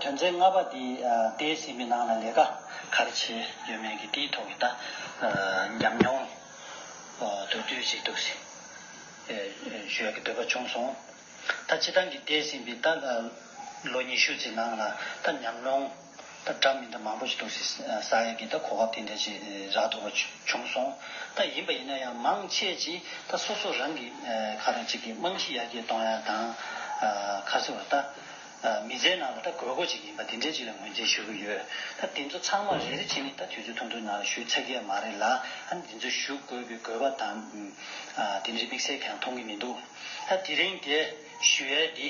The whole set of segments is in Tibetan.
དོན་ཚན་ལྔ་པ་འདི་བལྟས་ཟིན་པའི་ནང་ལ་ལས་ཀ་ག་རེ་བྱས་ཡོད་མེད་ཀྱི་དེའི་ཐོག་གི་ད་ཉམས་མྱོང་དོད་བསྡུས་ཤིག་འདུག་ཟེར་ཞོལ་གྱི་འདོད་པ་བྱུང་སོང། ད་སྤྱི་བཏང་གི་བལྟས་ཟིན་པའི་ད་ལོ་ཉི་ཤུ་ཚེ་ནང་ལ་ད་ཉམས་མྱོང་ད་འདྲ་མི་འདྲ་མང་པོ་ཞིག་འདུག་ཟེར་ས་ཡ་གི་ད་གོ་སྐབས་དེ་འདྲ་ཞིག་རག་འདུག་པ་བྱུང་སོང། ད་ཡིན་པ་ཡིན་ན་ཡང་མང་ཆེས་ཀྱིས་ད་སོ་སོ་རང་གིས་ག་རེ་ཅིག་གི་རྨང་གཞི་ཡར་རྒྱས་གཏོང་ཡ་དང་ཁ་སེ་བ་ད། མི་ཚེའི་ནང་དུ་ད་དགོས་མཁོ་ཅིག་ཡིན་པ་དེ་འདྲའི་ཅིག་ལ་ངོས་འཛིན་ཞུ་གི་ཡོད། ད་དེ་ཚོ་ཚང་མ་རེ་རེ་ཕྱི་མིག་ད་དུས་ཚོད་ཐུང་ཐུང་ནང་ལ་ཞུས་ཚར་གྱི་ཡ་མ་རེད་ལ་ད་འདི་ཚོ་ཞུ་དགོས་པའི་དགོས་པ་དང། དེ་འདྲའི་དམིགས་བསལ་གང་མཐོང་གི་མི་འདུག་ད་དེ་རིང་དེ་ཞུ་ཡ་འདི།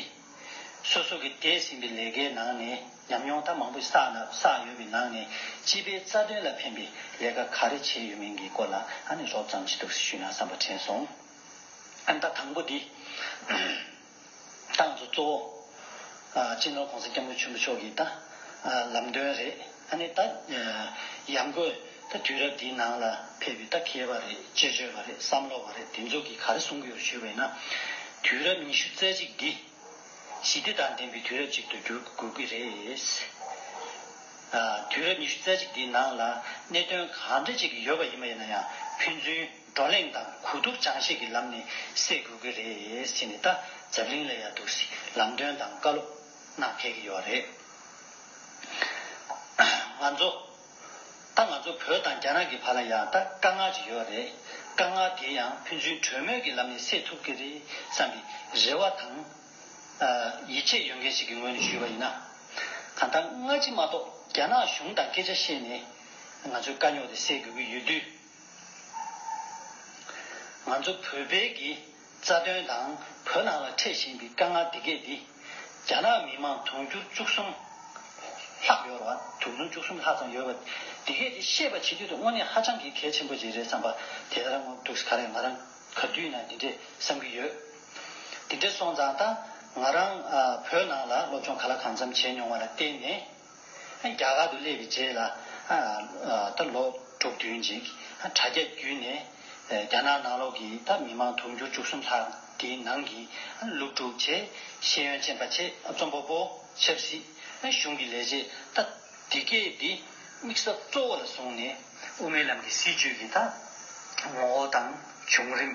སོ་སོ་གི་འདས་ཟིན་པའི་ལས་ཀའི་ནང་ནས་ཉམས་མྱོང་ད་མང་པོ་བསགས་ན་བསགས་ཡོད་པའི་ནང་ནས་སྤྱི་པའི་རྩ་དོན་ལ་ཕན་པའི་ལས་ཀ་ག་རེ་བྱས་ཡོད་མིན་གྱི་སྐོར་ལ་ཨ་ནི་རོབ་ཙམ་ཅིག་ཐུགས་སུ་ཞུས་ན་བསམ་པ་དྲན་སོང། ཨ་ནི་ད་དང་པོ་འདི། ཏང་གཙོ་གཙོ་བོ། སྤྱི་ནོར་གོང་ས་སྐྱབས་མགོན་ཆེན་པོ་མཆོག་གི་ད། ལམ་སྟོན་རེད། ཨ་ནི་ད། ཡང་སྒོས་ད་དུས་རབས་འདིའི་ནང་ལ་ཕེབས་པའི་ད་མཁས་པ་རེད་དཔྱད་བརྗོད་པ་རེད་བསམ་བློ་བ་རེད་དེ་ཚོ་གིས་ག་རེ་གསུང་གི་ཡོད་ཞུས་པས་ན། དུས་རབས་ཉི་ཤུ་རྩེ་གཅིག་འདི། ཞི་བདེ་དང་ལྡན་པའི་དུས་རབས་ཅིག་ཏུ་འགྱུར་དགོས་ཀྱི་རེད། དུས་རབས་ཉི་ཤུ་རྩེ་གཅིག་འདིའི་ནང་ལ་གནད་དོན་གང་འདྲ་ཅིག་ཡོད་པ་ཡིན་པ་ཡིན་ན་ཡང་ཕན་ཚུན། བགྲོ་གླེང་དང་གོ་བསྡུར་ཅང་ཤེས་ཀྱི་ལམ་ནས་སེལ་དགོས་ཀྱི་རེད་ཟེར་ནས་ད་ཛབ་གླིང་ལ་ཡ་འདུག་སི་ལམ་སྟོན་དང་བཀའ་སློབ་གནང་ཕེབས་ཀྱི་ཡོད་རེད། ང་ཚོ། ད་ང་ཚོ་བོད་དང་རྒྱ་ནག་གི་བར་ལ་ཡང་ད་དཀའ་ངལ་ཅིག་ཡོད་རེད། དཀའ་ངལ་དེ་ཡང་ཕན་ཚུན་གྲོས་མོལ་གྱི་ལམ་ནས་སེལ་ཐུབ་ཀྱི་རེད་བསམ་པའི་རེ་བ་དང། ཡིད་ཆེས་ཡོད་མཁན་ཞིག་གི་ངོས་ནས་ཞུས་པ་ཡིན་ན། གང་ལྟར་སྔ་ཕྱི་མ་གཏོགས་རྒྱ་ནག་གཞུང་དང་སྐད་ཆ་བཤད་ནས་ང་ཚོའི་དཀའ་རྙོག་དེ་སེལ་དགོས་ཀྱི་ཡོད་དུས། ང་ཚོ་བོད་པའི་གི་རྩ་དོན་དང་བོད་ནང་ལ་འཕྲད་བཞིན་པའི་དཀའ་ངལ་དེ་གས་འདི། རྒྱ་ནག་མི་མང་དུང་ཕྱུར་བཅུ་གསུམ་ལྷག་ཡོད་ར་དུང་ཕྱུར་བཅུ་གསུམ་ལྷག་ཙམ་ཡོད་ར་དེ་གས་འདི་ཤེས་པ་བྱེད་དུས་དུ་དངོས་གནས་ཧ་ཅང་གི་གལ་ཆེན་པོ་ཞིག་རེད་བསམ་པ་དེ་ལྟར་ངོ་འདུག་ག་རེ་ང་རང་ག་དུས་ན་འདི་འདྲས་བསམ་གི་ཡོད། འདི་འདྲས་སོང་ཙང་ད་ང་རང་བོད་ནང་ལ་སློབ་སྦྱོང་ག་ལ་གང་འཚམ་བྱས་མྱོང་བ་ལ་བརྟེན་ནས། རྒྱ་གར་དུ་སླེབས་པའི་རྗེས་ལ། ད་ལོ་དྲུག་བདུན་ཅིག་དྲ་རྒྱ་བརྒྱུད་ནས་རྒྱ་ནག་ནང་ལོགས་ཀྱི་ད་མི་མང་དུང་ཕྱུར་བཅུ་གསུམ་ལྷག་གི་ནང་གི་སློབ་ཕྲུག་ཆེད་ཤེས་ཡོན་ཅན་པ་ཆེད་རྩོམ་པ་པོ་ཆབ་སྲིད་གཞུང་གི་ལས་བྱེད་ད་དེ་སྐད་དེ་དམིགས་ས་གཙོ་བོ་ལ་བཟུང་ནས་དབུ་མའི་ལམ་གྱི་སྲིད་བྱུས་ཀྱི་ད་ངོ་བོ་དང་བྱུང་རིམ།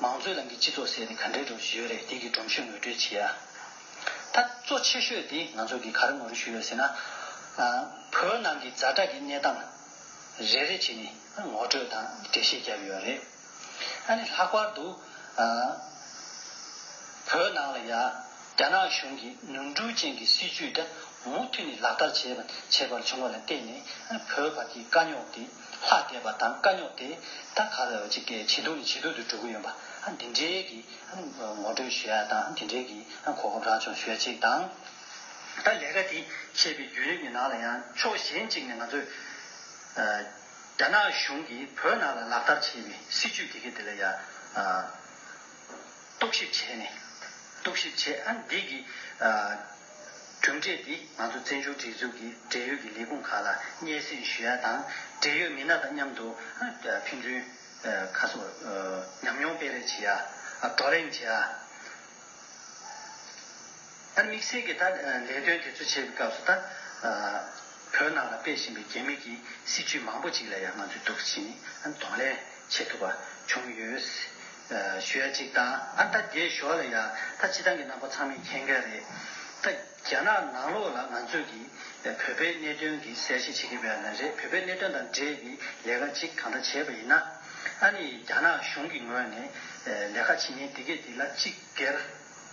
མང་གཙོའི་ལམ་གྱི་སྤྱི་ཚོགས་ཟེར་ནས་ག་འདྲའི་སྒྲོམ་གཞི་ཡོད་རེད་དེ་གི་སྒྲོམ་གཞི་ངོས་སྤྲོད་བྱེད་ཡ། ད་གཙོ་ཆེ་ཤོས་དེ་ང་ཚོ་གི་ག་རེ་ངོ་རེ་ཞུ་ཡོད་ཟེར་ན། བོད་ནང་གི་རྫ་དྲག་གི་གནས་སྟངས་རེ་རེ་བྱེད་ནས་ངོ་སྤྲོད་དང་འགྲེལ་བཤད་བརྒྱབ་ཡོད་རེད། ཨ་ནི་ལྷག་པར་དུ། བོད་ནང་ལ་ཡ། རྒྱ་ནག་གཞུང་གི་ནོར་འཁྲུལ་ཅན་གྱི་སྲིད་ཇུས་དེ་མུ་མཐུད་ནས་ལག་བསྟར་བྱེད་པར་བྱུང་བ་ལ་བརྟེན་ནས་བོད་བར་གྱི་དཀའ་རྙོག་དེ། ལྷ་དད་པ་དང་དཀའ་རྙོག་དེ་ད་ག་ལ་ཡོད་ཅིག་གི་ཇེ་སྡུག་ནས་ཇེ་སྡུག་ཏུ་འགྲོ་གི་ཡོད་པ་འདི་འདྲའི་གི་ངོ་སྤྲོད་ཞུ་ཡ་དང་འདི་འདྲའི་གི་གོ་སྐབས་རག་བྱུང་ཞུ་ཡ་ཅིག་དང། ད་ལས་ཀ་དེ་བྱེད་པའི་བརྒྱུད་རིམ་གྱི་ནང་ལ་ཡང་ཕྱོགས་གཞན་ཅིག་ནས་ང་ཚོས་རྒྱ་ནག་གཞུང་གིས་བོད་ནང་ལ་ལག་བསྟར་བྱེད་པའི་སྲིད་ཇུས་དེ་གི་དེ་ལ་ཡང་རྟོག་ཞིབ་བྱས་ནས་རྟོག་ཞིབ་བྱས་འདི་གི་གྲུབ་འབྲས་འདིས་ང་ཚོ་བཙན་བྱོལ་སྒྲིག་འཛུགས་ཀྱི་འབྲེལ་ཡོད་ཀྱི་ལས་ཁུངས་ཁག་ལ་སྙན་སེང་ཞུ་ཡ་དང་འབྲེལ་ཡོད་མི་སྣ་དང་མཉམ་དུ་ཕན་ཚུན་ཁ་གསོ། ཉམས་མྱོང་སྤེལ་རེས་བྱེད་ཡ། བགྲོ་གླེང་བྱེད་ཡ། ད་དམིགས་བསལ་གྱི་ད་ལས་དོན་དེ་ཚོ་བྱེད་པའི་སྐབས་སུ་ད་བོད་ནང་ལ་སྤེལ་བཞིན་པའི་རྒྱ་མི་གྱི་སྲིད་བྱུས་མང་པོ་ཅིག་ལ་ཡང་ང་ཚོས་དུག་གཞི་ནས་གདོང་ལེན་བྱེད་ཐུབ་པ་བྱུང་ཡོད། ཞོལ་གཅིག་དང་ཨ་མདའ་རྒྱའི་ཞོར་ལ་ཡང་ད་ཕྱི་ཐང་གི་གནང་པ་ཚང་མས་མཁྱེན་གལ་རེད། ད་རྒྱ་ནག་ནང་ལོགས་ལ་ང་ཚོས་ཀྱིས་བོད་པའི་གནད་དོན་གྱི་གསལ་བཤད་བྱེད་ཀྱི་བས་ན་རེད་བོད་པའི་གནད་དོན་དང་འབྲེལ་གྱི་ལས་ཀ་གཅིག་གང་འདྲ་བྱས་པ་ཡིན་ན། ཨ་ནི་རྒྱ་ནག་གཞུང་གི་ངོས་ནས་ལས་ཀ་བྱེད་མཁན་དེ་གས་དེ་ལ་གཅིག་གེར།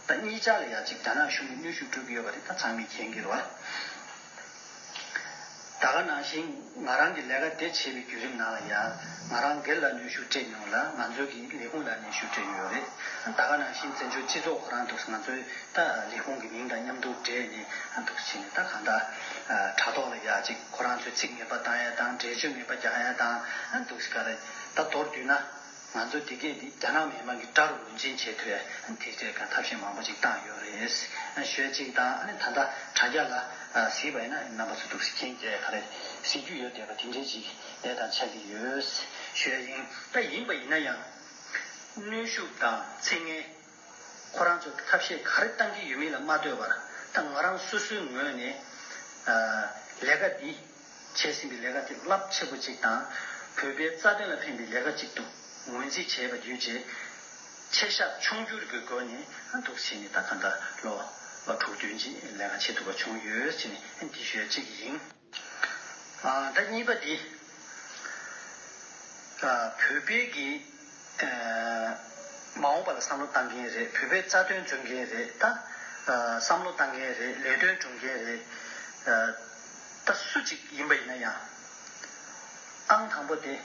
ད་གཉིས་ཅག་ལ་ཡང་གཅིག་རྒྱ་ནག་གཞུང་གི་གནོད་ཤུགས་སྤྲོད་ཀྱི་ཡོད་པ་དེ་ད་ཚང་མས་མཁྱེན་གེར་བ། ད་ག་ནང་བཞིན་ང་རང་གི་ལས་ཀ་དེ་བྱེད་པའི་བརྒྱུད་རིམ་ནང་ལ་ཡང་ང་རང་སྒེར་ལ་ནུས་ཤུགས་སྤྲད་མྱོང་ལ་ང་ཚོའི་གི་ལས་ཁུངས་ལ་ནུས་ཤུགས་སྤྲད་ཡོད་རེད་ད་ག་ནང་བཞིན་བཙན་བྱོལ་སྤྱི་ཚོགས་ཁོ་རང་འདུག་ང་ཚོའི་ད་ལས་ཁུངས་གི་མིང་དང་མཉམ་དུ་སྦྲེལ་ནས་འདུག་བྱས་ནས་ད་གང་ད་དྲ་ཐོག་ལ་ཡ་ཅིག་ཁོ་རང་ཚོའི་ཚིག་ངན་པ་བཏང་ཡ་དང་འགྲེལ་བརྗོད་ངན་པ་རྒྱག་ཡ་དང་འདུག་ག་རེད་ད་མདོར་བསྡུས་ན། ང་ཚོ་དེ་གས་དེ་རྒྱ་ནག་མི་དམངས་ཀྱི་དགྲ་རུ་ངོས་འཛིན་བྱེད་དུས་དེ་གས་གང་ཐབས་ཤེས་མང་པོ་ཅིག་བཏང་ཡོད་རེད། ཞོལ་ཅིག་དང་ད་ལྟ་དྲ་རྒྱ་ལ་གཟིགས་པ་ཡིན་ན་རྣམ་པ་ཚོ་སྡུག་གཟིགས་མཁན་གས་ག་རེ་གཟིགས་རྒྱུ་ཡོད་བསྡད་པ་དེ་འདྲའི་ཅིག་ལས་དང་ཆགས་ཀྱི་ཡོད། ཞོལ་དབྱིང། ད་ཡིན་པ་ཡིན་ན་ཡང། གནོན་ཤུགས་དང་ཚིག་ངན། ཁོ་རང་ཚོ་ཐབས་ཤེས་ག་རེ་བཏང་གི་ཡོད་མིན་ལ་མ་ལྟོས་པར་ད་ང་རང་སོ་སོའི་ངོས་ནས། ལས་ཀ་འདི། བྱས་ཟིན་པའི་ལས་ཀ་དེ་རླབས་ཆེ་པོ་ཅིག་དང། བོད་པའི་རྩ་དོན་ལ་ཕན་པའི་ལས་ཀ་ཅིག་ཏུ་ངོས་འཛིན་བྱས་པ་བརྒྱུད་རྗེས་ཁྱེད་ཤག་ཕྱུག་འགྱུར་གྱི་སྒོ་ནས་འདུག་བྱས་ནས་ད་ག་ཟླ་ལོ་དྲུག་བདུན་རྗེས་ལས་ཀ་བྱེད་ཐུབ་པ་བྱུང་ཡོད་ཅེས་ནས་འདི་ཤོད་ཅིག་ཡིན། ད་གཉིས་པ་འདི། བོད་པའི་གི། མ་འོངས་པ་ལ་བསམ་བློ་བཏང་གིན་རེད་བོད་པའི་རྩ་དོན་འཛོན་གིན་རེད་ད། བསམ་བློ་བཏང་གིན་རེད་ལས་དོན་སྒྲུབ་གིན་རེད་ད། སུ་གཅིག་ཡིན་པ་ཡིན་ན་ཡང། ཨང་དང་པོ་དེ།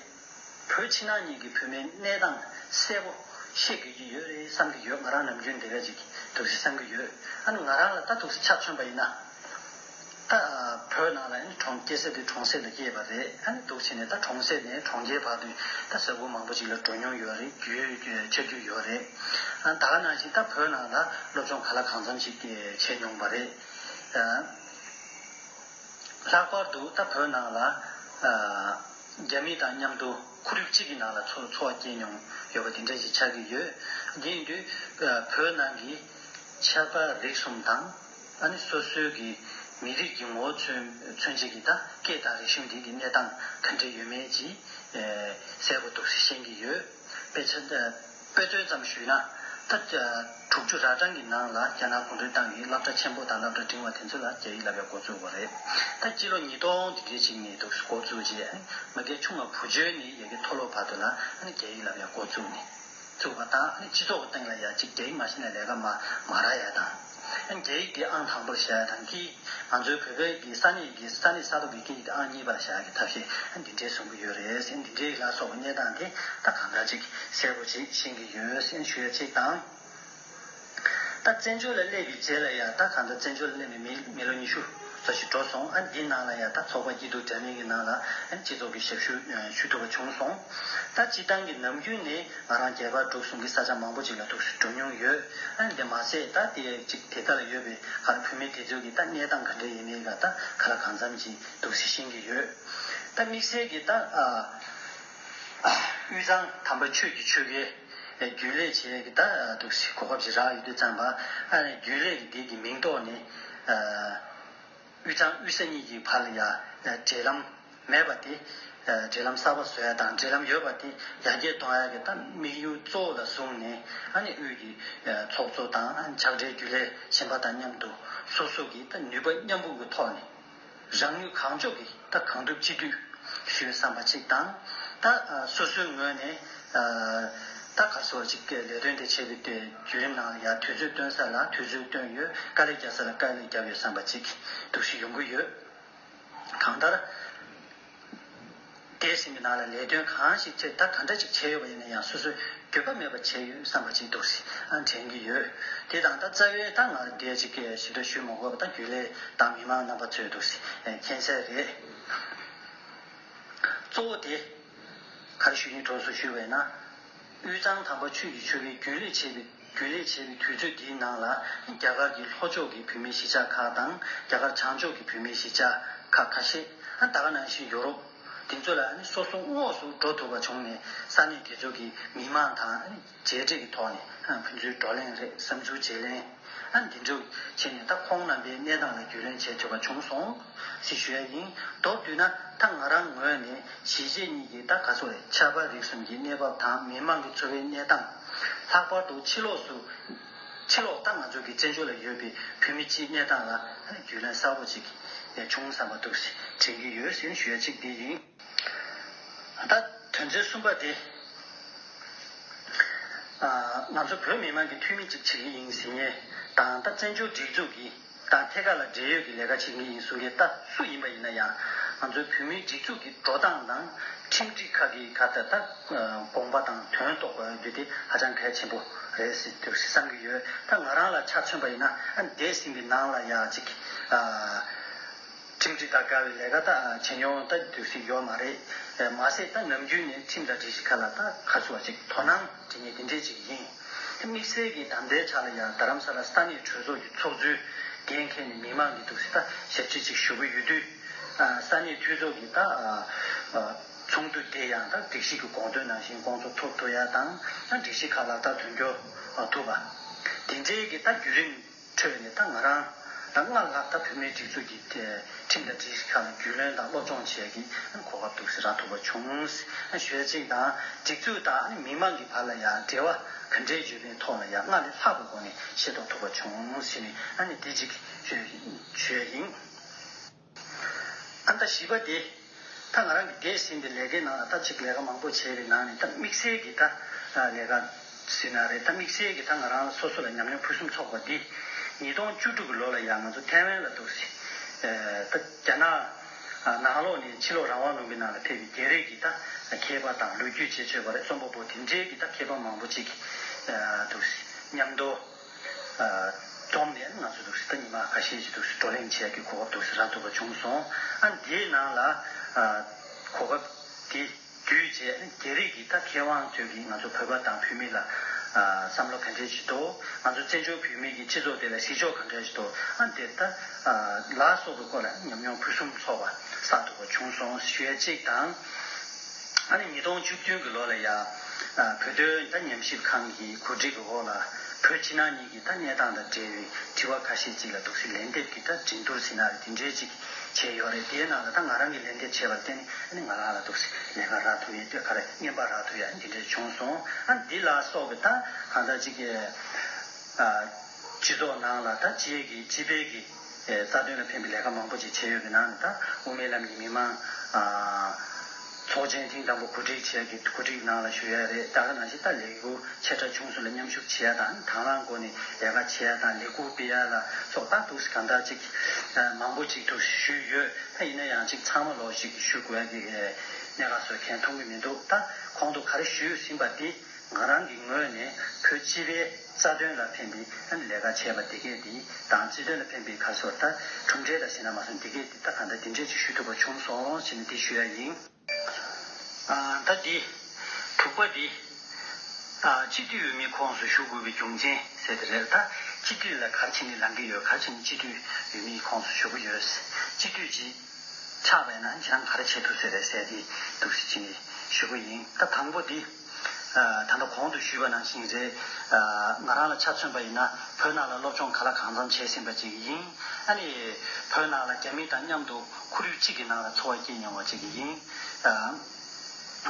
བོད་ཕྱི་ནང་གཉིས་ཀྱི་བོད་མའི་གནས་སྟངས་གསལ་པོ་ཤེས་དགོས་ཀྱི་ཡོད་རེད་བསམ་གྱི་ཡོད་ང་རང་ནམ་རྒྱུན་དེ་བས་ཅིག་དུག་སེལ་བསམ་གྱི་ཡོད་ཨ་ནུ་ང་རང་ལ་ད་དུག་སེལ་ཆ་མཚོན་པ་ཡིན་ན། ད་བོད་ནང་ལ་ཡང་གྲོང་སྐྱེས་ཟེར་དུས་གྲོང་གསེབ་ལ་སྐྱེས་པ་རེད་ཨ་ནི་སྡུག་ཆེ་ནས་ད་གྲོང་གསེབ་ནས་གྲོང་ཁྱེར་བར་དུ་ད་ས་ཁུལ་མང་པོ་ཅིག་ལ་འགྲོ་མྱོང་ཡོད་རེད་རྒྱུས་ཆ་རྒྱུས་ཡོད་རེད་ད་ག་ནང་བཞིན་ད་བོད་ནང་ལ་སློབ་སྦྱོང་ག་ལ་གང་འཚམ་ཅིག་བྱས་མྱོང་པ་རེད། ལྷག་པར་དུ་ད་བོད་ནང་ལ་རྒྱ་མི་དང་མཉམ་དུ་ཁོར་ཡུག་གཅིག་གི་ནང་ལ་འཚོ་བ་སྐྱེལ་མྱོང་ཡོད་པ་དེ་འདྲ་ཞིག་ཆགས་ཀྱི་ཡོད་དེ་ཡིན་དུས་བོད་ནང་གི་ཆབ་དཔལ་རིག་གསུམ་དང། ཨ་ནི་སོ་སོའི་གི་མི་རིགས་ཀྱི་ངོ་བོ་མཚོན་མཚོན་བྱེད་ཀྱི་ད་སྐད་དང་རིག་གཞུང་འདི་གི་གནས་སྟངས་ག་འདྲེ་ཡོད་མེད་ཀྱི་གསལ་པོ་འདུག་ཤེས་ཀྱི་ཡོད། དཔེ་ཆ་དཔེ་སྟོན་ཙམ་ཞུས་ན། ད་དྲུག་ཅུ་རག་གྲངས་ཀྱི་ནང་ལ་རྒྱ་ནག་གུང་ཁྲན་ཏང་གིས་བསླབ་གྲྭ་ཆེན་པོ་དང་བསླབ་གྲྭ་འབྲིང་བ་དེ་ཚོ་ལ་རྒྱ་ཡིག་བསླབ་པའི་འགོ་བཙུགས་པ་རེད། ད་སྤྱི་ལོ་ཉིས་སྟོང་དེ་གའི་ཆིག་ནས་འདུག་འགོ་བཙུགས་རྗེས་ཨ་ནི་ང་གའི་ཆུང་མ་བུ་ཇོ་ནི་ཡ་གི་མཐོ་སློབ་བར་དུ་ལ་ཨ་ནི་རྒྱ་ཡིག་བསླབ་པའི་འགོ་བཙུགས་ནས། ཚུགས་པ་དང་སྤྱི་ཚོགས་ཀྱི་སྟེང་ལ་ཡ་གཅིག་རྒྱ་ཡིག་མ་བཤད་ནས་ལས་ཀ་མ་མ་རག་ཡ་དང། རྒྱ་ཡིག་གི་ཨང་དང་པོར་བཞག་ཡ་དང་གིས་ང་ཚོའི་བོད་པའི་གི་ས་གནས་ཀྱི་ས་གནས་ས་ཐོག་གི་སྐད་ཡིག་དེ་ཨང་གཉིས་པ་ལ་བཞག་གི་ཐབས་ཤེས་འདི་འདྲའི་བཟོ་གི་ཡོད་རེད། འདི་འདྲའི་ཡིག་ལ་སོགས་པ་རྙེད་སྟངས་དེ་ད་གང་འདྲ་ཅིག་གསལ་པོ་ཅིག་ཤེས་གི་ཡོད་ཞུ་ཡ་གཅིག་དང། ད་བཙན་བྱོལ་ལ་སླེབས་ཡོད་རྗེས་ལ་ཡང་ད་གང་ལྟར་བཙན་བྱོལ་ལ་སླེབས་ནས་མི་མི་ལོ་ཉི་ཤུ་ཙོ་ཞིག་འགྲོ་སོང་ཨ་འདིའི་ནང་ལ་ཡང་ད་ཚོགས་པ་སྐྱིད་སྡུག་འདྲ་མིན་གྱི་ནང་ལ་ཨ་སྤྱི་ཚོགས་ཀྱི་ཞབས་ཞུ་ཞུ་ཐུབ་པ་བྱུང་སོང་ད་སྤྱི་བཏང་གི་ནམ་རྒྱུན་ནི་ང་རང་རྒྱལ་ཁབ་འགྲོ་སོང་གི་ས་ཆ་མང་པོ་ཅིག་ལ་ཐུགས་སུ་འགྲོ་མྱོང་ཡོད་ཨ་དེ་མ་ཟད་ད་དེ་ཅིག་དེ་ག་ལ་ཡོད་པའི་ག་ལ་བུད་མེད་དེ་ཚོའི་གི་ད་གནས་སྟངས་ག་འདྲ་ཡིན་མིན་ག་ད་ག་ལ་གང་འཚམ་གྱིས་འདུག་ཟེ་ཤེས་གི་ཡོད་ད་དམིགས་བསལ་གྱི་ད་ཨ། དབུས་གཙང་དམ་པ་ཆོས་ཀྱི་ཆོལ་ཁའི་རྒྱུན་ལས་བྱེད་ཀྱི་ད་འདུག་སི་གོ་ཁབ་ཅིག་རག་ཡོད་དུས་ཙང་པ་ཨ་རན་རྒྱུན་ལས་ཀྱི་སྡེ་གི་མིང་ཐོག་ནས་དབུས་གཙང་དབུས་ས་གཉིས་ཀྱི་བར་ལ་ཡ་འབྲེལ་ལམ་མེད་པ་དེ་འབྲེལ་ལམ་གསར་པ་བཟོ་ཡ་དང་འབྲེལ་ལམ་ཡོད་པ་དེ་ཡ་རྒྱས་གཏོང་ཡ་གི་ད་དམིགས་ཡུལ་གཙོ་བོ་ལ་བཟུང་ནས་ཨ་ནི་དབུས་ཀྱི་ཚོགས་གཙོ་དང་ཕྱག་སྦྲེལ་རྒྱུན་ལས་གཞན་པ་དང་མཉམ་དུ་སོ་སོ་གི་ད་ནུས་པ་མཉམ་སྤུངས་ཀྱི་ཐོག་ནས། རང་ནུས་གང་ལྕོགས་ཀྱིས་ད་གང་ཐུབ་ཅི་ཐུབ་ཞུས་བསམ་པ་ཅིག་དང། ད་སོ་སོའི་ངོས་ནས་ད་གར་སོ་བ་ཅིག་ལས་དོན་དེ་བྱེད་པའི་བརྒྱུད་རིམ་ནང་ལ་ཡང་དུས་ཚོད་བཏོན་ས་ལ་དུས་ཚོད་བཏོན་ཡོད་དཀའ་ལས་རྒྱབ་ས་ལ་དཀའ་ལས་རྒྱབ་ཡོད་བསམ་པ་ཅིག་འདུག་ཤི་ཡོང་གི་ཡོད། གང་ལྟར། འདས་ཟིན་པའི་ནང་ལ་ལས་དོན་གང་ཞིག་ཆེད་ལྟ་ག་འདྲ་ཞིག་བྱས་ཡོད་པ་ཡིན་ན་ཡང་སོ་སོས་འགྱོད་པ་མེད་པར་བྱས་ཡོད་བསམ་པ་ཅིག་འདུག་སེམས་དྲན་གྱི་ཡོད། དེ་དང་ད་རྩ་བའི་ད་ང་རེ་འགས་ཅིག་ཞིབ་ལྟ་ཞུས་མ་དགོས་པ་ད་རྒྱུན་ལས་དང་མི་མང་རྣམ་པ་ཚོས་འདུག་མཁྱེན་གསལ་རེད། གཙོ་བོ་དེ། ག་རེ་ཞུ་ཡིན་གྲོགས་སུ་ཞུས་པ་ཡིན་ན། དབུས་གཙང་དང་པོ་ཆུས་ཀྱི་ཆུ་བེད་རྒྱུན་ལས་བྱེད་པའི། རྒྱུན་ལས་བྱེད་པའི་དུས་ཚོད་འདིའི་ནང་ལ་རྒྱ་གར་གྱི་ལྷོ་ཕྱོགས་ཀྱི་བུད་མེད་གཞིས་ཆགས་ཁག་དང་རྒྱ་གར་བྱང་ཕྱོགས་ཀྱི་བུད་མེད་གཞིས་ཆགས་ཁག་ཁ་ཤས་ད་ག་ནང་བཞིན་ཡོ་རོབ་དེ་ཚོ་ལ་སོ་སོ་དངོས་སུ་འགྲོ་ཐུབ་པ་བྱུང་ནས་ས་གནས་དེ་ཚོ་གི་མི་དམངས་དང་མཇལ་འཕྲད་ཀྱི་ཐོག་ནས་ཕུན་ཚུན་བགྲོ་གླེང་རེས་བསམ་ཚུལ་བརྗེ་ལེན་འདི་འདྲ་བྱས་ནས་ད་ཁོང་རྣམ་པའི་གནས་སྟངས་ལ་རྒྱུས་ལོན་བྱེད་ཐུབ་པ་བྱུང་སོང། ཟི་གཞོན་ནི། མདོར་བསྡུས་ན་ད་ང་རང་ངོས་ནས་གཞིས་བྱེས་གཉིས་ཀྱི་ད་ག་ཚོ་རེད་ཆབ་འབག་རིག་གསུམ་གྱི་གནས་བབ་དང་མི་མང་གི་འཚོ་བའི་གནས་སྟངས། ལྷག་པར་དུ་ཕྱི་ལོགས་སུ། ཕྱི་ལོགས་ད་ང་ཚོ་གི་བཙན་བྱོལ་ལ་ཡོད་པའི་བོད་མི་སྤྱིའི་གནས་སྟངས་ལ་རྒྱུས་ལོན་གསར་བོ་ཅིག་བྱུང་བསམ་པ་འདུག་དྲན་གྱི་ཡོད་ཟེར་ཞུ་ཡ་གཅིག་འདི་ཡིན། ད་དོན་ཚན་གསུམ་པ་དེ། ང་ཚོ་བོད་མི་མང་གི་འཐུས་མི་ཅིག་བྱེད་ཀྱི་ཡིན་ཟེར་ཉེས་དང་ད་བཙན་བྱོལ་སྒྲིག་འཛུགས་ཀྱི་དང་ཐད་ཀར་ལ་འབྲེལ་ཡོད་ཀྱི་ལས་ཀ་བྱེད་མཁན་ཡིན་གསུང་མཁན་ལྟ་སུ་ཡིན་པ་ཡིན་ན་ཡང་ང་ཚོའི་བོད་མིའི་སྒྲིག་འཛུགས་ཀྱི་འགྲོ་སྟངས་དང་ཁྲིམས་སྒྲིག་ཁག་གི་ག་ད་ལྟ་དགོངས་པ་དང་དོན་རྟོགས་པ་རྒྱུ་དེ་ཧ་ཅང་གལ་ཆེན་པོ་རེད་ཟེར་དུས་བསམ་གྱི་ཡོད་ད་ང་རང་ལ་ཆ་མཚོན་པ་ཡིན་ན་ཨ་འདས་ཟིན་པའི་ནང་ལ་ཡག་ཅིག་ཁྲིམས་སྒྲིག་དང་དགའ་བའི་ལས་ཀ་དག་བྱེད་མྱོང་ལྟ་རྒྱུ་འདོད་སྲིད་ཡོད་མ་རེད། མ་ཟད་ད་ནམ་རྒྱུན་ནས་ཁྲིམས་དང་སྒྲིག་གཞི་ཁ་ལ་ཐག་ཁ་བསུ་བ་ཅིག་དོ་སྣང་བྱེད་ངེས་དེ་འདྲས་ཅིག་ཡིན། དམིགས་བསལ་གྱིས་དམ་དྲའི་ཆ་ལ་ཡང་རྡ་རམ་ས་ལ་ས་གནས་གྲོས་ཚོགས་ཀྱི་ཚོགས་གཙོའི་འགན་ཁྱེར་ནས་མི་མང་གི་འདུག་སྲིད་ལྟ་ཞིབ་ཁྲིད་ཅིག་ཞུ་གི་ཡོད་དུས། ས་གནས་འཐུས་ཚོགས་ཀྱི་ད་ཚོགས་འདུ་དེ་ཡང་ད་སྒྲིག་གཞི་གི་དགོངས་དོན་ནང་བཞིན་དགོངས་ཚོགས་ཐོབ་ཐུབ་ཡ་དང་སྒྲིག་གཞི་ཁ་ལག་བསྟར་དོན་འཁྱོལ་ཐུབ་པ། དེ་འདྲས་ཀྱི་ད་བརྒྱུད་རིམ། འཕྲོས་པས་ནི་ད་ང་རང་ལ་སྔར་ལྷག་ད་བོད་མིའི་སྒྲིག་འཛུགས་ཀྱི་ཁྲིམས་དང་སྒྲིག་གཞི་ཁག་ལ་རྒྱུས་ལོན་དང་སློབ་སྦྱོང་བྱེད་ཀྱི་གོ་སྐབས་འདུག་ཟེར་རག་ཐུབ་པ་བྱུང། ཞོལ་གཅིག་དང་སྒྲིག་འཛུགས་དང་མི་མང་གི་བར་ལ་ཡང་འབྲེལ་བ་ག་འདྲའི་ཡོད་པའི་ཐོག་ལ་ཡང་སྔར་ལས་ལྷག་པའི་སྒོ་ནས་ཤེས་རྟོགས་ཐུབ་པ་བྱུང་ཞེས་ནི་དེ་གཅིག་བརྗོད་ཡིན། ཨ་མདའ་བྱིས་པ་དེ། ད་ང་རང་གི་འདས་ཟིན་པའི་ལས་ཀའི་ནང་ལ་ད་ཅིག་ལས་ཀ་མང་པོ་བྱས་པའི་ནང་ནས་ད་དམིགས་བསལ་གྱི་ད་ལས་ཀ་ཟིན་ན་རེད་ད་དམིགས་བསལ་གྱི་ད་ང་རང་ལ་སོ་སོ་ལ་ཉམས་མྱོང་ཕུན་སུམ་ཚོགས་པ་འདི། ཉིས་སྟོང་བཅུ་དྲུག་གི་ལོ་ལ་ཡང་ང་ཚོ་ཐའེ་ཝན་ལ་འདུག་སྲིད། ད་རྒྱ་ནག་ནང་ལོགས་ནས་ཕྱི་ལོགས་རང་དབང་ལུང་པའི་ནང་ལ་ཕེབས་པའི་རྒྱལ་རིགས་ཀྱི་ད་མཁས་པ་དང་ལོ་རྒྱུས་དཔྱད་བརྗོད་པ་རེ་རྩོམ་པ་པོ་དེ་འདྲའི་གི་ད་མཁས་པ་མང་པོ་ཅིག་འདུག་སྲིད་སྙམ་དོ། བསྡོམས་ནས་ང་ཚོས་ཟླ་ཉི་མ་ཁ་ཤས་ཀྱི་བགྲོ་གླེང་བྱས་དགོས་གོ་སྐབས་རག་ཐུབ་པ་བྱུང་སོང། དེའི་ནང་ལ་གོ་སྐབས་དེ་བརྒྱུད་རྗེས་རྒྱ་རིགས་ཀྱི་ད་མཁས་དབང་ཚོས་ཀྱིས་ང་ཚོ་བོད་པ་དང་བོད་མི་ལ་བསམ་བློ་ག་འདྲས་བྱེད་དོ། ང་ཚོ་བཙན་བྱོལ་བོད་མི་ཀྱི་སྤྱི་ཚོགས་དེ་ལ་གཟིགས་ཕྱོགས་ག་འདྲ་བྱེད་དོ། དེ་ལྟ་ལ་སོགས་པའི་སྐོར་ལ་ཉམས་མྱོང་ཕུན་སུམ་ཚོགས་པ་བསགས་ཐུབ་པ་བྱུང་སོང་ཞུ་ཡ་གཅིག་དང། ཨ་ནི་ཉིས་སྟོང་བཅུ་བདུན་གྱི་ལོ་ལ་ཡ། བོད་དོན་མཐའ་ཉམས་ཞིབ་ཁང་གི་གོ་སྒྲིག་གི་འོག་ལ། བོད་ཕྱི་ནང་གཉིས་ཀྱི་མཐའ་གནས་སྟངས་དང་འབྲེལ་བའི་དྲི་བ་ཁ་ཤས་ཅིག་ལ་དུག་སེལ་ལན་འདེབས་ཀྱི་མཐའ་དྲིན་དུར་སེ་ན་རེ་དེ་འདྲའི་ཅིག་བྱས་ཡོད་རེད་དེའི་ནང་ལ་ད་ང་རང་གིས་ལན་འདེབས་བྱས་པར་བརྟེན་ནི་ཨ་ནི་ང་རང་ལ་དུག་སེལ་ལན་ཁ་རག་ཐུབ་ཡས་སྟོད་ཁ་རེ་བརྙན་པར་རག་ཐུབ་ཡས་ཨ་ནི་དེ་འདྲའི་བྱུང་སོང་ཨ་ནི་འདི་ལ་སོགས་ཀྱི་ད་གང་ལྟར་ཅིག་སྤྱི་ཚོགས་ནང་ལ་ད་སྤྱི་ཡས་ཀྱི་སྤྱི་དཔལ་གྱི། རྩ་དོན་ལ་ཕན་པའི་ལས་ཀ་མང་པོ་ཅིག་བྱས་ཡོད་པའི་ནང་ནས་ད་དབུ་མའི་ལམ་གྱི་མི་མང་ཚོགས་ཆེན་ཐེངས་དང་པོ་གོ་སྒྲིག་བྱས་ཀྱི་གོ་སྒྲིག་ནང་ལ་ཞུགས་ཡ་རེད་ད་ག་ནང་བཞིན་ད་ལས་འགུལ་ཆེ་ཕྲ་ཆུང་སུ་ལ་མཉམ་ཞུགས་བྱས་ཡ་དང་དང་བླངས་སྒོ་ནས་ལས་ཀ་བྱས་ཡ་དང་ལས་འགུལ་སྤེལ་ཡ་ལ་སོགས་ད་ཐུགས་གང་ཐག་ཅིག་མང་པོ་ཅིག་ཐུགས་ཞུས་ཡོད་ད་ཡིན་ན་ཡང་ཅིག་ཚང་མ་ལོགས་ཤིག་ཞུ་དགོས་ཡ་གི་གནད་ཁ་བཟོད་མཁན་མཐོང་གི་མི་འདུག་ད་གོང་དུ་ག་རེ་ཞུས་ཟིན་པ་དེ། ང་རང་གི་ངོས་ནས་བོད་སྤྱི་པའི་རྩ་དོན་ལ་ཕན་པའི་ལས་ཀ་བྱས་པ་འདི་གས་དེ་དང་སྤྱི་དོན་ལ་ཕན་པའི་ཁ་སོར་ད་གྲུབ་འབྲས་ལ་ཞེད་སྣང་མ་སོང་འདི་གས་དེ་ད་གང་ལྟར་འདི་འདྲས་ཅིག་ཞུ་ཐུབ་པ་བྱུང་སོང་ཞེས་ནས་དེ་ཞུ་ཡ་ཡིན། ད་འདི། དྲུག་པ་འདི། སྤྱི་འཐུས་འོས་མིའི་ཁོངས་སུ་ཞུགས་དགོས་པའི་རྒྱུ་མཚན་གསལ་ཏེ་རེད་ད་སྤྱི་འཐུས་ལ་གར་ཕྱིན་ནས་ལངས་ཀྱི་ཡོད་གར་ཕྱིན་ནས་སྤྱི་འཐུས་འོས་མིའི་ཁོངས་སུ་ཞུགས་ཀྱི་ཡོད། སྤྱི་འཐུས་ཀྱི། ཆགས་པས་ན་ཁྱེད་རང་ག་རེ་བྱེད་ཐུབ་ཚོད་རེད་ཟེར་ཏེ་འདུག་ཟེར་གྱིན་ཞུ་གི་ཡིན་ད་དང་པོ་དེ། ད་ལྟ་གོང་དུ་ཞུས་པ་ནང་བཞིན་རེད། ང་རང་ལ་ཆ་མཚོན་པ་ཡིན་ན་བོད་ནང་ལ་སློབ་སྦྱོང་ག་ལ་གང་འཚམ་བྱས་ཟིན་པ་ཅིག་ཡིན། ཨ་ནི། བོད་ནང་ལ་རྒྱ་མི་དང་མཉམ་དུ་ཁོར་ཡུག་གཅིག་གི་ནང་ལ་འཚོ་བ་སྐྱེལ་མྱོང་བ་ཅིག་གི་ཡིན།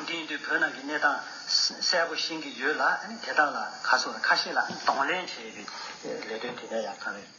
དེ་ཡིན་དུས་བོད་ནང་གི་གནས་སྟངས་གསལ་པོ་ཤེས་ཀྱི་ཡོད་ལ་ཨ་ནི་དེ་དག་ལ་ཁ་སོར་ཁ་ཤས་ལ་གདོང་ལེན་བྱེད་པའི་ལས་དོན་དེ་འདྲ་ཡག་གང་རེད།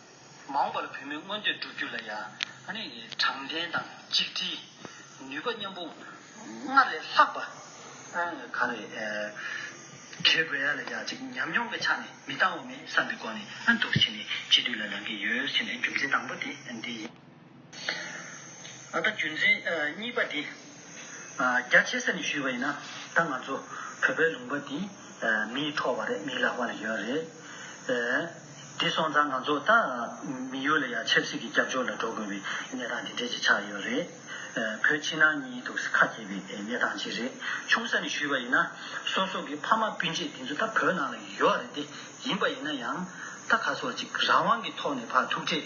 མང་བར་བུད་མེད་མངོན་འདོད་བསྒྲུབ་རྒྱུ་ལ་ཡང། དྲང་བདེན་དང་གཅིག་དྲིལ། ནུས་པ་མཉམ་པོ། སྔར་ལས་ལྷག་པ། ག་རེ། བྱེད་དགོས་ཡ་ལ་ཡ་གཅིག་ཉམས་མྱོང་གི་ཆ་ནས་མི་བཏང་བ་མེད་བསམ་པའི་སྒོ་ནས་འདུག་ཕྱིན་ནས་གཅིག་སྡུད་ལ་ལངས་ཀྱི་ཡོད་ཕྱིན་ནས་རྒྱུ་མཚན་དང་པོ་དེ་འདི་ཡིན། ད་ལྟ་རྒྱུ་མཚན་གཉིས་པ་དེ། རྒྱ་ཆེ་ས་ནས་ཞུས་པ་ཡིན་ན། ད་ང་ཚོ་བོད་པའི་ལུང་པ་འདི་མིའི་ཐོག་བ་རེད་མིའི་ལག་པ་ལ་ཡོད་རེད། དེ་སོང་ཙང་ང་ཚོ་ད་མི་ཡུལ་ལ་ཡང་ཆབ་སྲིད་ཀྱི་སྐྱབས་བཅོལ་ལ་འགྲོ་དགོས་པའི་གནས་སྟངས་དེ་འདྲས་ཅིག་ཆགས་ཡོད་རེད། བོད་ཕྱི་ནང་གཉིས་ཐུག་ས་ཁ་གྱེས་པའི་གནས་སྟངས་ཅིག་རེད། ཆུང་ས་ནས་ཞུས་པ་ཡིན་ན། སོ་སོ་གི་ཕ་མ་སྤུན་མཆེད་དེ་ཚོ་ད་བོད་ནང་ལ་ཡོད་རེད་དེ། ཡིན་པ་ཡིན་ན་ཡང། ད་ག་ཚོད་ཅིག་རང་དབང་གི་ཐོག་ནས་ཕ་ཐུག་འཕྲད།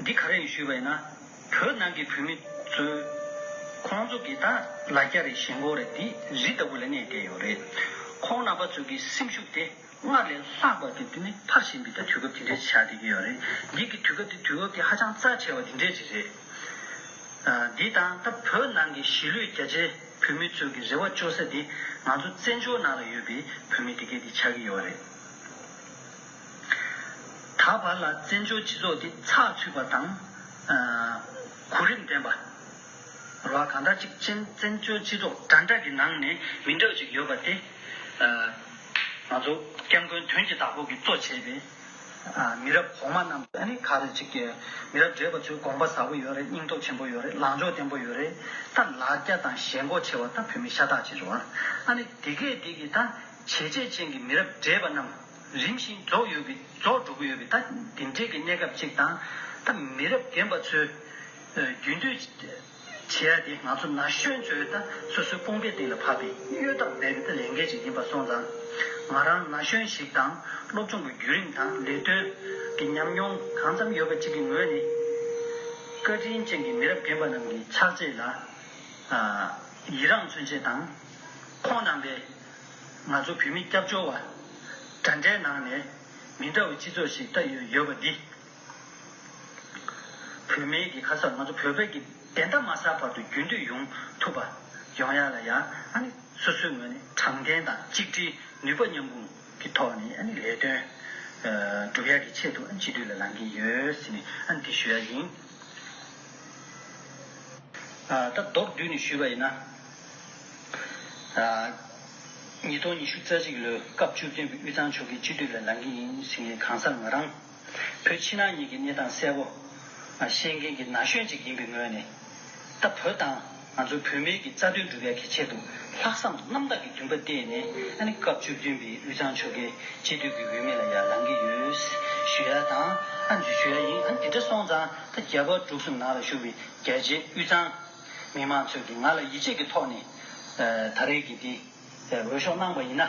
འདི་ག་རེ་ཡིན་ཞུས་པས་ན། བོད་ནང་གི་བོད་མི་གཙོས། ཁོང་ཚོ་གི་ད་ལ་སྐྱ་རེ་ཞེན་ཁོག་རེ་འདི་རི་ལྟ་བུ་ལ་གནས་བསྡད་ཡོད་རེད། ཁོང་རྣམ་པ་ཚོས་གི་སེམས་ཤུགས་དེ་སྔར་ལས་ལྷག་པ་དེ་འདི་ནི་ཕར་ཞེན་པའི་ད་དུས་སྐབས་དེ་འདྲའི་ཆགས་བསྡད་ཀྱི་ཡོད་རེད། འདི་གི་དུས་སྐབས་དེ་དུས་བབ་དེ་ཧ་ཅང་རྩ་ཆེ་བ་དེ་འདྲའི་རིགས་རེད། འདི་དང་ད་བོད་ནང་གི་གཞིས་ལུས་རྒྱ་ཆེ་བོད་མི་ཚོས་གི་རེ་བ་བཅོལ་ས་དེ་ང་ཚོ་བཙན་བྱོལ་ནང་ལ་ཡོད་པའི་བོད་མི་དེ་གས་དེ་ཆགས་ཀྱི་ཡོད་རེད། ད་བར་ལ་བཙན་བྱོལ་སྤྱི་ཚོགས་འདི་ཚགས་ཚུད་པ་དང། གོ་རིམ་ལྡན་པ། རེད་བ་གང་འདྲ་གཅིག་ཅན་བཙན་བྱོལ་སྤྱི་ཚོགས་འདྲ་འདྲ་གི་ནང་ནས་མི་འདྲ་བ་ཅིག་ཡོད་པ་དེ། ང་ཚོ་སྐྱབས་མགོན་དོན་གྱི་བདག་པོ་གིས་གཙོ་བྱས་པའི་མི་རབས་གོང་མ་རྣམས་ཀྱི་ནི་ག་རེ་ཅིག་མི་རབས་བགྲེས་པ་ཚོའི་དགོངས་པ་ཟབ་པོ་ཡོད་རེད་སྙིང་སྟོབས་ཆེན་པོ་ཡོད་རེད་ལངས་ཕྱོགས་བརྟན་པོ་ཡོད་རེད་ད་ལ་རྒྱ་དང་ཞེན་འགོག་ཆེ་བ་ད་བོད་མི་ཤ་སྟག་ཅིག་རེད་བ། ཨ་ནི་དེ་གས་དེ་གིས་ད་བྱས་རྗེས་ཅན་གྱི་མི་རབས་བགྲེས་པ་རྣམས། རིམ་བཞིན་རྫོགས་ཡོད་པའི་རྫོགས་འགྲོ་གི་ཡོད་པའི་ད་དེ་འདྲས་ཀྱི་གནས་སྐབས་ཅིག་དང། ད་མི་རབས་རྒན་པ་ཚོས་རྒྱུན་སྡོད་བྱེད་ཡ་དེ་ང་ཚོ་ན་གཞོན་ཚོས་ད་སོ་སོའི་དཔུང་སྡེ་སྟེང་ལ་ཕབ་པའི་གཡོལ་ཐབས་སྦས་པའི་ད་ལས་འགན་ཅིག་ཡིན་པ་སོང་ཙང། ང་རང་ན་གཞོན་ཞིག་དང་སློབ་སྦྱོང་གི་བརྒྱུད་རིམ་དང་ལས་དོན་གྱི་ཉམས་མྱོང་གང་ཙམ་ཡོད་པ་ཅིག་གི་ངོས་ནས། བཀའ་དྲིན་ཅན་གྱི་མི་རབས་རྒན་པ་རྣམས་ཀྱི་ཕྱག་རྗེས་ལ་ཡི་རངས་མཚོན་ཆེད་དང། ཁོང་རྣམ་པའི། ང་ཚོ་བོད་མི་སྐྱབས་བཅོལ་བ། དགྲ་འདྲེ་ནང་ནས། མི་འདྲ་བའི་སྤྱི་ཚོགས་ཤིག་ལྟ་ཡོད་ཡོད་པ་འདི། བོད་མི་གི་ཁ་སར་ང་ཚོ་བོད་པའི་གི་བདེན་མཐའ་མ་ཟག་བར་དུ་རྒྱུན་མཐུད་ཡོང་ཐུབ་པ། ཡོང་ཡག་ལ་ཡག་ཨ་ནི་སོ་སོའི་ངོས་ནས་དྲང་བདེན་དང་གཅིག་སྒྲིལ་ནུས་པ་མཉམ་སྤུངས་ཀྱི་ཐོག་ནས་ཨ་ནི་ལས་དོན། སྒྲུབ་ཡག་གི་ཆེད་དུ་ཨ་ནི་སྤྱི་འཐུས་ལ་ལང་གི་ཡོད་ཟེར་ནས་ཨ་ནི་དེ་ཞུ་ཡག་ཡིན། ད་མདོར་བསྡུས་ནས་ཞུས་པ་ཡིན་ན། ཉིས་སྟོང་ཉི་ཤུ་རྩ་གཅིག་ལོའི་སྐབས་བཅུ་བདུན་པའི་དབུས་གཙང་ཆོལ་ཁའི་སྤྱི་འཐུས་ལ་ལངས་ཀྱི་ཡིན་ཟེར་མཁན་གང་ཟག་ང་རང། བོད་ཕྱི་ནང་གཉིས་ཀྱི་གནས་སྟངས་གསལ་པོ། ཤེས་མཁན་གྱི་ན་གཞོན་ཅིག་ཡིན་པའི་ངོས་ནས། ད་བོད་དང་ང་ཚོ་བོད་མིའི་གི་རྩ་དོན་སྒྲུབ་ཡ་གི་ཆེད་དུ་ལྷག་བསམ་རྣམ་དག་གི་འདུན་པ་བརྟས་ནས་སྐབས་བཅུ་བདུན་པའི་དབུས་གཙང་ཆོལ་ཁའི་སྤྱི་འཐུས་ཀྱི་འོས་མི་ལ་ཡར་ལངས་ཀྱི་ཡོད། ཞུ་ཡ་དང། ཞུ་ཡ་ཡིན། འདི་འདྲ་སོང་ཙང་ད་རྒྱ་བལ་འབྲུག་གསུམ་ནང་ལ་བཞུགས་པའི་རྒྱལ་གཅེས་དབུས་གཙང། མི་དམངས་ཚོས་ཀྱིས་ང་ལ་ཡིད་ཆེས་ཀྱི་ཐོག་ནས་ད་རེས་ཀྱི་འདི་འོས་ཤོག་གནང་པ་ཡིན་ན།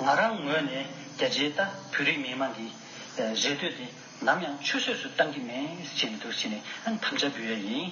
ང་རང་ངོས་ནས་རྒྱ་ཆེའི་ལྟ་བུའི་རིགས་མི་དམངས་ཀྱི་རེ་ལྟོས་དེ་ནམ་ཡང་ཆུད་ཟོས་སུ་གཏང་གི་མེད་ཅེས་མི་སྡུག་ཅིང་ནས་དམ་བཅའ་འབུལ་ཡས་ཡིན།